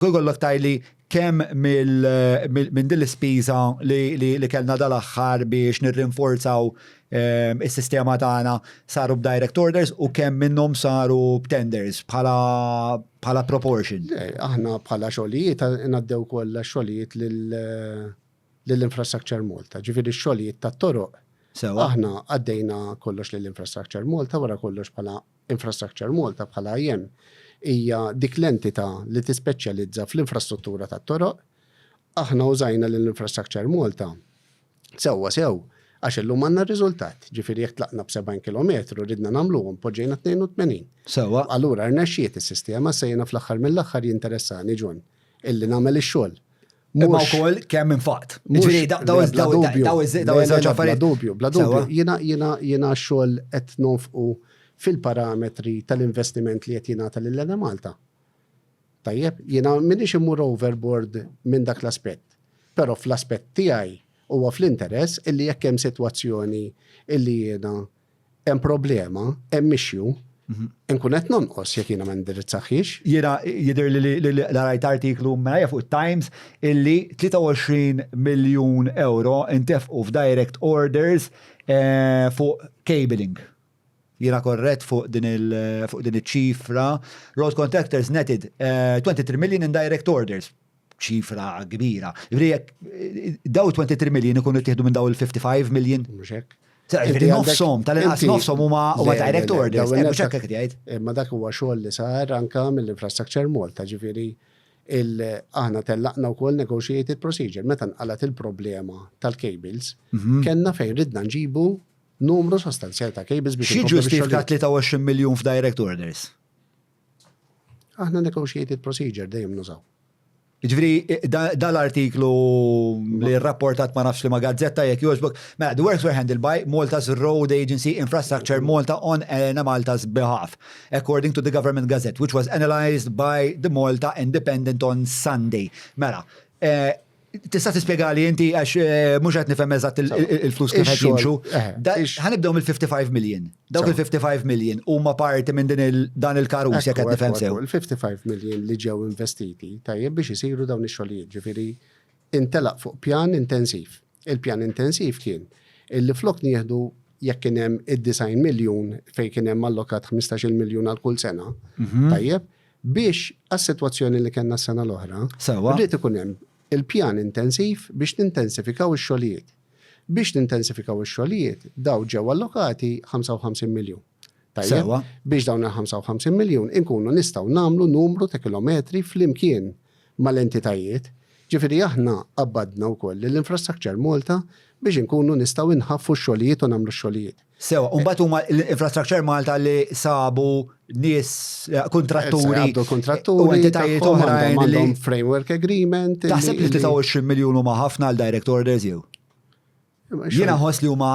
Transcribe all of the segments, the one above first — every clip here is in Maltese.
Jkollok tgħidli kemm minn din l-ispiża li kellna dal-aħħar biex nirrinforzaw is-sistema tagħna saru b'direct orders u kemm minnhom saru b'tenders bħala proportion? Aħna bħala xogħlijiet ngħaddew kollha x-xogħlijiet lil Infrastructure Malta, ġifieri x-xogħlijiet tat-toroq. Sewwa. Aħna għaddejna kollox lil Infrastructure Malta, wara kollox bħala Infrastructure Malta, bħala IM, hija dik l-entità li tispeċjalizza fl-infrastruttura tat-toroq. Aħna użajna lil Infrastructure Malta sewwa sew għax illum għandna r-riżultat, ġifieri jekk tlaqna b'70 kilometru ridna nagħmluhom poġġejna 82. Sewwa. Allura rnexxiet is-sistema, issa jiena fl-aħħar mill-aħħar jinteressani, John, Illi nagħmel ix-xogħol. Imma wkoll kemm infaqt. Ġifieri daw iż-żewġ affarijiet. Dubju, bla dubju. Jiena xogħol qed nonfqu fil-parametri tal-investiment li qed jingħata lil Enemalta. Tajjeb, jiena m'iniex immur overboard minn dak l-aspett. Però fl-aspett tiegħi huwa fl-interess illi jekk hemm sitwazzjoni illi jiena hemm problema, hemm issue, nkun qed nonqos jekk jiena ma ndirizzahiex. Jiena jidher li l-rajt artiklu mela fuq it-Times illi 23 miljun euro intefqu f'direct orders eh, fuq cabling. Jiena korrett fuq din il-ċifra. Road contractors netted 23 eh, million in direct orders. ċifra kbira. Ġifieri jekk daw 23 million ikunu ttieħdu minn daw il-55 million? Mhux hekk. Ġifieri nofshom, tal-inqas nofshom huma huma direct orders, mhux hekk qed jgħid. Imma dak huwa xogħol li sar anke mill-Infrastructure Malta, ġifieri aħna tellaqna wkoll negotiated procedure. Meta nqalgħet il-problema tal-cables, kellna fejn ridna nġibu numru sostanzjali ta' cables biex. Xi ġustifika 23 million f'direct orders? Aħna negotiated procedure dejjem nużaw. Ġviri, dal-artiklu li rapportat ma nafx li ma gazzetta jek joġbok, mela, the works were handled by Malta's Road Agency Infrastructure Malta on Elena Malta's behalf, according to the Government Gazette, which was analyzed by the Malta Independent on Sunday. Mela, eh, Tista' tispjegali inti għax eh, mhux qed nifhem eżatt il-flus kif qed jimxu. Eh, ħanibdew mill-55 million. Dawk il-55 million huma parti minn din dan il-karus jekk qed nifhem sew. Il-55 million li ġew investiti tajjeb biex isiru dawn ix-xogħlijiet, ġifieri intelaq fuq pjan intensiv. Il-pjan intensiv kien illi flok nieħdu jekk kien hemm id-design miljun fejn kien hemm allokat 15 miljun għal kull sena, mhm. tajjeb, Biex għas-sitwazzjoni li kellna s-sena l-oħra, rrid ikun hemm il-pjan intensiv biex nintensifikaw ix-xogħlijiet. Biex nintensifikaw ix-xogħlijiet, dawn ġew allokati 55 miljun. Tajjeb? Biex dawn il-55 miljun inkunu nistgħu nagħmlu numru ta' kilometri flimkien mal-entitajiet. Ġifieri aħna qabbadna wkoll lill-Infrastructure Malta biex inkunu nistgħu nħaffu x-xogħlijiet u nagħmlu x-xogħlijiet. Sewa, u mbagħad huma l-Infrastructure Malta li sabu nies eh, kontratturi. Għabdu kontratturi. U entitajiet oħrajn. Għandhom framework agreement. Taħseb li 23 miljun huma ħafna għal direct orders jew? Jiena ħoss li huma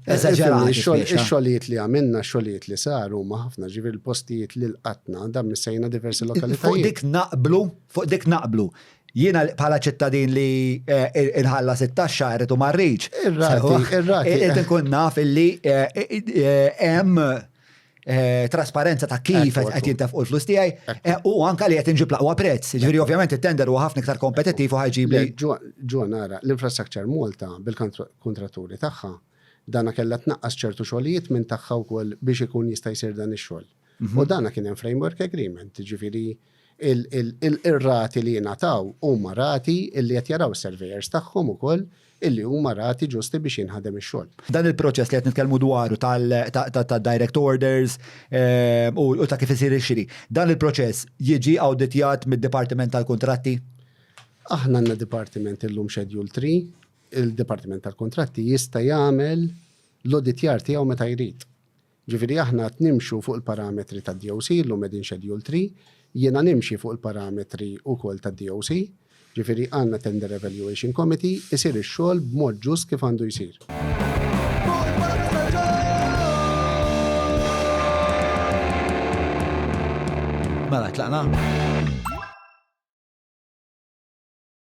eh, eżaġerati. Ix-xogħlijiet li għamilna, xogħlijiet li saru huma ħafna ġifier il-postijiet li l-qatna dam missejna diversi lokalitajiet. Fuq dik naqblu, fuq dik naqblu. Jiena bħala ċittadin li nħallas it-taxxa irrid u ma rridx. Irrid inkun naf illi hemm Eh, trasparenza ta' kif qed jintefqu l-flus tiegħi eh, u anke li qed inġib laqwa prezz. Ġifieri ovvjament it-tender huwa ħafna iktar kompetittiv u ħajġib li. Ġo nara, l-infrastructure Malta bil-kontraturi tagħha dana kellha tnaqqas ċertu xogħlijiet minn tagħha wkoll biex ikun jista' jsir dan ix-xogħol. U dana kien hemm framework agreement, ġifieri il-rati li jingħataw huma rati li qed jaraw is-surveyors tagħhom ukoll illi huma rati ġusti biex jinħadem ix-xogħol. Dan il-proċess li qed nitkellmu dwaru tad-direct orders u ta' kif isir ix-xiri, dan il-proċess jiġi awditjat mid-Dipartiment tal-Kuntratti? Aħna għandna dipartiment illum Schedule 3, il-Dipartiment tal-Kuntratti jista' jagħmel l-awditjar tiegħu meta jrid. Ġifieri aħna qed nimxu fuq il-parametri tad-DOC, illum qegħdin Schedule 3, jiena nimxi fuq il-parametri wkoll tad-DOC, ġifieri għandna Tender Evaluation Committee, isir ix-xogħol b'mod ġust kif għandu jsir. Mela, tlaqna?